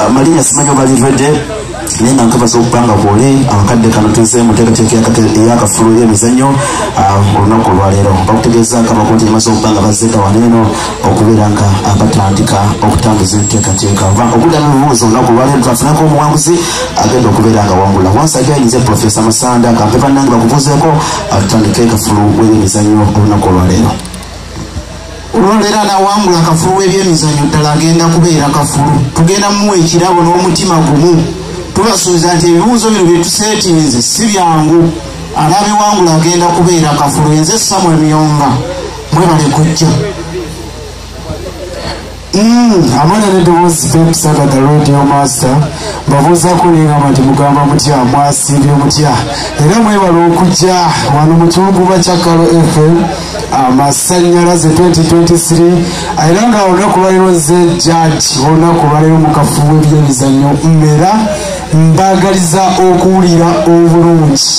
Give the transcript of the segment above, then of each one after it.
amalinya ah, simanyi oba livedde naye nga nkabaza okubanga kwoli akakadde ah, kano tuze mu nteekateeka eyakafulu y'emizannyo ah, olunaku olwaleero bakutegeeza nga bakunti emaze okubanga bazzeeka wano eno okubeera nga batandika okutambuza enteekateeka oba okuddamu ebibuuzo olunaku olwaleero twafunako omuwanguzi agenda okubeera nga wangula once again nze profesa masanda kampe bannange bakubuuzeeko atutandike kafulu w'emizannyo olunaku olwaleero olwaleero anawangula akafulu w'ebyemizanyo ddala agenda kubeera kafulu tugenda muwa ekirabo n'omutima gumu tubasuubiza nti ebibuuzo bino byetuseetinze si byangu anabiwangula agenda kubeera kafulu enze samuel myonga mwebale kujja hmm, amana nedowoozi pepsagada radio master mbabuuzako nengamba nti mugamba mutya mwasimbye mutya era mwebale okujja wano mukiwuguba kya kalo fm amasanyalaze 2023 era nga olunaku lwaliro ze jaji olunaku lwaliro mukafu w'ebyemizanyo mmera mbagaliza okuwulira obulungi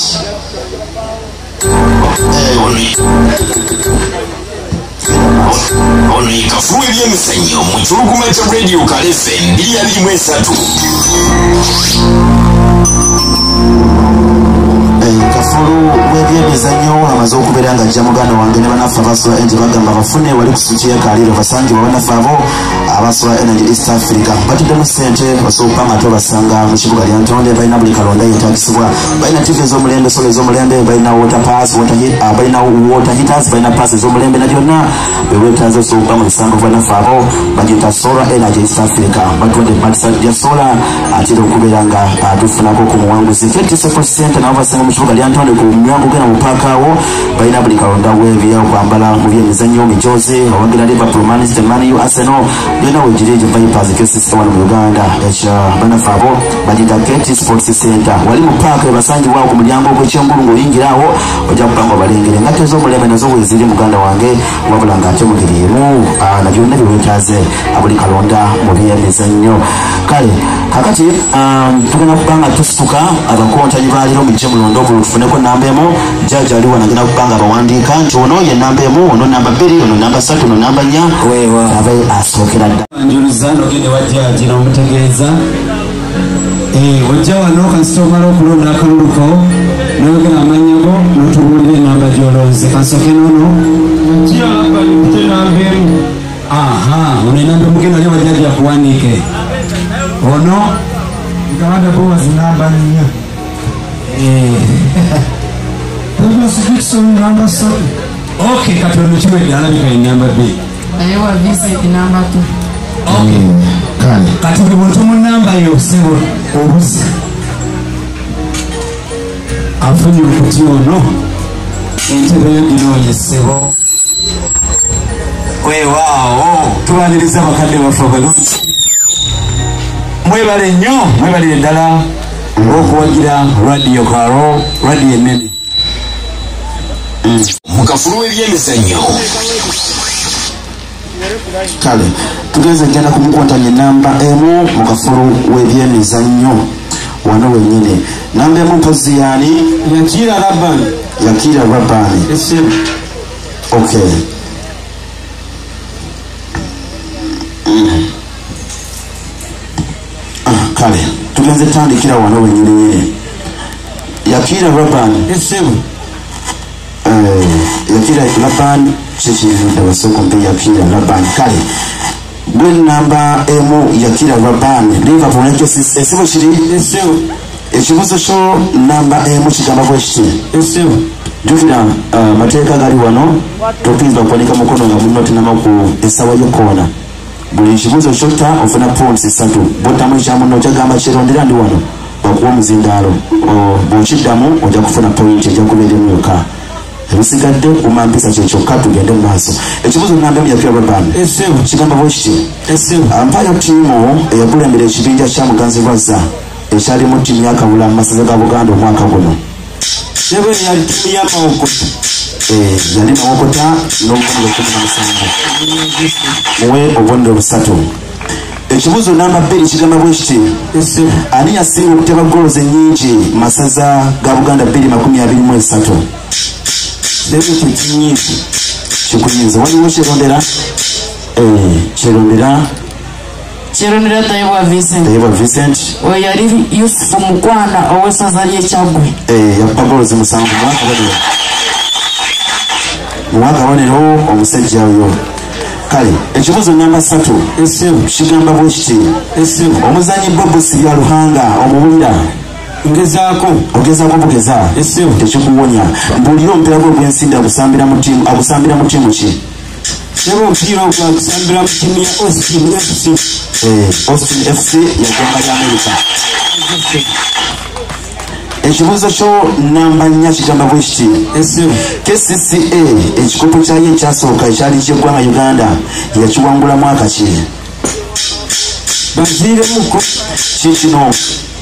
ono yekafuwa ebyemizanyo mu kiwuguma kya radio kalesi Endiya limu esatu. kafulu webyemizanyo amaze okubeera nga ajja muganda wange ne banaffe abasula enti bagamba bafune wali kusukyekaliiro basangibwa banaffe abo abasula energy east africa batuddemu sente osobola nga tobasanga mu kibuga lya ntonde balina buli kalonda yetagisibwa balina tv ezomulembe sola ezomulembe balina water pass balina water heaters balina pass ezomulembe na byonna ewetanze soka mu lusango bwanaffe abo bagiyita solar energy east africa batwadde ebatisali lya sola atera okubeera nga atufunako ku muwanguzi fettiseko sente nabo basanga mu kibuga lyantonde ku myango gena mu paaka awo balina buli kalonda webya okwambala mu byemizannyo mijozi owagira liverpool manchester man u arsenal byona wegiri egyo vipers kesisita wano mu uganda ekya banaffe abo bagiyita keti sports center wali mu paaka ebasangibwawo ku mulyango ogwekyengulu ng'oyingirawo ojja kugamba obalengere engatto ez'omulembe nazo weeziri muganda wange wabula ng'ate mugeri emu ah, na byonna bye weetaaze abuli kalonda mu byemizannyo kale kakati um, tugenda kuba nga tusituka abakontanyi baaliro mujje mulonde ogulu tufuneko namba emu jaaja aliwo nagenda kuba nga abawandiika nti ono ye namba emu ono namba bbiri ono namba satu ono namba nnya abe asookera dda Eh, ojja wano kasita omala okulonda akalulu ko noyogera amanya go notubuulira enamba gyolonze kansooke nono aha ono enamba emugenda lyo wajaja kuwandiike ono gabanda bowazi namba nnya eh. ok kati ono kiwedde alabika enamba bbiri naye wa visa enamba tu kale kati buli muntu mu namba yo sebo obuzi afunye okuti ono entebe yo ginoonye sebo wewaawo tubaniriza abakadde baffe abalungi mwebale nnyo mwebalire ddala okuwagira radiyo karo radiyo enene mu kafulu w'ebyemizannyo kale tugenze njana kumukwatanya enamba emu mu kafulu w'ebyemizannyo wano wenyini namba emu mpozi yaani yakira rabani yakira rabani okay mm. ah, kale tugenze tandikira wano wenyininyini yakira raban esebo eh, yakira laban kyekirindabasokombe yakira laban kale gwe namba emu yakira raban liverpool nakyo esibo kiri esebo ekibuzo kyo namba emu kigamba bwekiti esebo jukira eh, amateeka gali wano topinza okuwanika mukono nga munotinamaku esawa yokoona buli kibuzo kyotta ofuna pounds ssatu bwoddamu ekya munno okyagamba kyerondera ndi wano bakuwa omuzindaalo bwokiddamu ojja kufuna point ejja kubeera emu yokka ebisigadde kuma mpisa kyekyokka tugende mu maaso ekibuzo namba emyapya baban kigamba bwekiti mpayo tiimu eyakulembera ekibinja kya muganzi lwazza ekyalimu tiimu yakabula mu masaza ga buganda omwaka guno Seven yali timu ya Mawokota. Eh, yali Mawokota n'obubonero kumi na musanvu. Muwe obubonero busatu. Ekibuuzo namba bbiri kigamba bwe kiti ani yasinga okuteba goolo zennyingi mu masaza ga Buganda bbiri makumi abiri mu esatu. Seven kye kinyiizi. Kikuyinza waliwo kyerondera? Eh, kyerondera. kirumira tayebwa vincent tayebwa vincent oyo yali yusufu mukwana ow'essaza ly'ekyagwe eh, yakuba golozi musanvu mwaka banero mwaka banero omusajja oyo kale ekibuzo namba satu kigamba bwe kiti omuzanyi bobusi bya luhanga omubulira ngezaako ogezaako bugeza tekikuwonya mbuulira omupiira gwe ogw'ensimbi agusambira mu tiimu ki era omupiira ogwagusambira mu tiimu ya austin fc eh, austin fc yagamba lya amerika ekibuuzo kyo namba nnya kigamba bwe kiti kcca ekikopo kyayo ekyasooka ekyali kyeggwanga uganda yakiwangula mwaka ki baziiremuko kikino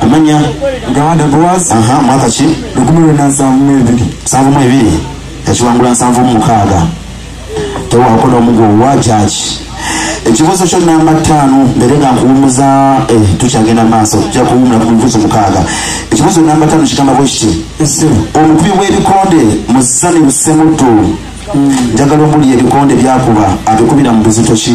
Kumanya. Gawanda Boaz. Aha, mwaka ki? Lukumi lwenda nsanvu mu ebiri. Nsanvu mu ebiri. Yakiwangula nsanvu mu mukaaga. Tewaako n'omu gw'owa jaaji. Ekibuuzo kyo namba ttaano mbere nga nkuwumuza eh, tukyagenda maaso tujja kuwumula ku bibuuzo mukaaga. Ekibuuzo namba ttaano kigamba bwe kiti. Omukubi w'ebikonde mu Zani Lusemuddu. Hmm. Njagala omuli ebikonde byakuba abikubira mu buzito ki?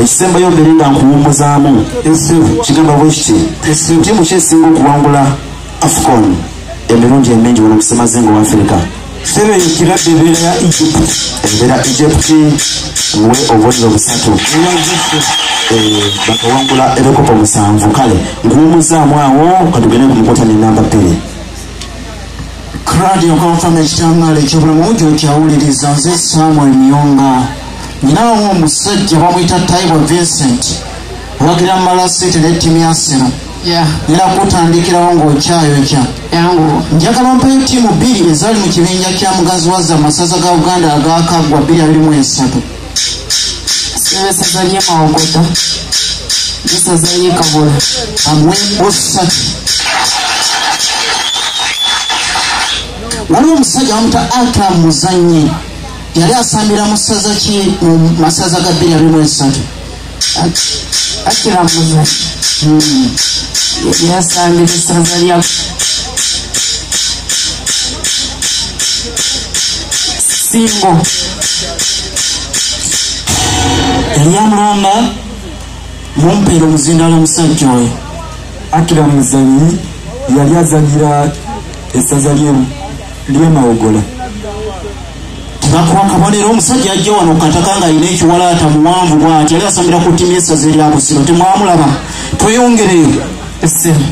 ekisembayo mbere nga nkuwumuzaamu kigamba bwekiti tiimu kyesinga okuwangula afcon emirundi emingi wano musemazinga wa afirika sebe ekirabbe ebeera ya egypt ebeera egypt muwe obuliro busatu eh, bakawangula ebikopo musanvu kale nkuwumuzaamu awo katugende ku mukutana enamba bbiri Crowd your confirmation channel ekyobulamu gyokyawuliriza nze Samuel Miyonga nyinawo omusajja bamuyita Taibo Vincent wagira mala sente ne ttimu ya Arsenal era kutandikirawo ng'okyayokya njagala ompayo ttiimu bbiri ezaali mu kibinja kya mugazi wazza amasaza ga Uganda agaakaggwa 223 n'esaza ly'e mawokota n'esaza ly'e kabula amwembo ssatu waliwo omusajja wamuta ata muzanyi yali asambira mu ssaza ki mu masaza ga bbiri abimu esatu akira muzanyo yasambira esaza lya simbo eryamulamba mumpeera omuzindalo omusajja oyo akira muzanyi yali azanyira esaza lyemawogola Tebakuwa akabonero omusajja ajja wano okukataka ng'alina ekiwalaata muwanvu bwati yali asomera ku ttiimu y'essaza erya Busiro temwamulaba tweyongereyo essimu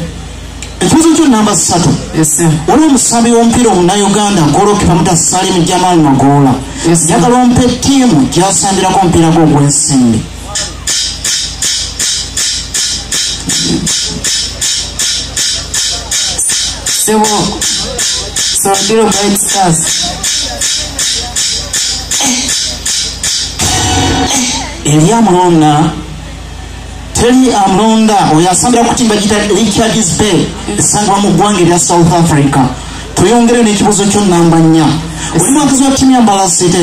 ekibuzo kyo namba ssatu essimu waliwo omusambi w'omupiira omunauganda golokipa muta Salim Jamal Magoola njagala ompa ettiimu gy'asambirako omupiira gwe ogw'ensimbi sebo sodiro bright stars eri amulonda teri amulonda oyo asambira ku timba gita richards bay esangibwa mu ggwanga erya south africa tweyongere n'ekibuzo kyo namba nnya oli mwakazi wa timu ya mbalasite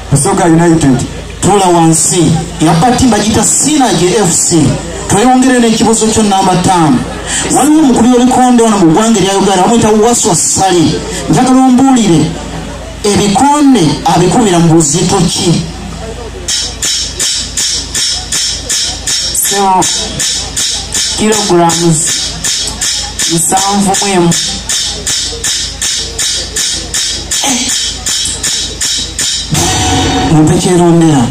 Busoga United tula wansi yabba ttimu bagiyita Synergy FC tweyongere n'ekibuzo kyo namba ttaano waliwo omukubi w'ebikonde wano mu ggwanga erya Uganda bamuyita Waswa Ssali njagala ombuulire ebikonde abikubira mu buzito ki kilogulaamu nsanvu mu emu mumpekyerondera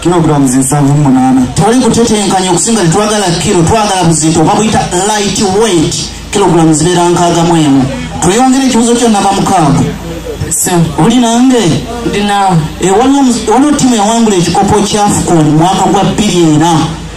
kilograms nsanvu munaana twali kutetenkanya okusinga tetwagala kiro twagala buzito babuyita light weight kilograms zibeera nkaaga mu emu tweyongere ekibuzo kyo naba mukaaga oli nange eh, waliwo timu yawangula ekikopo kya afcon mwaka gwa bbiri ena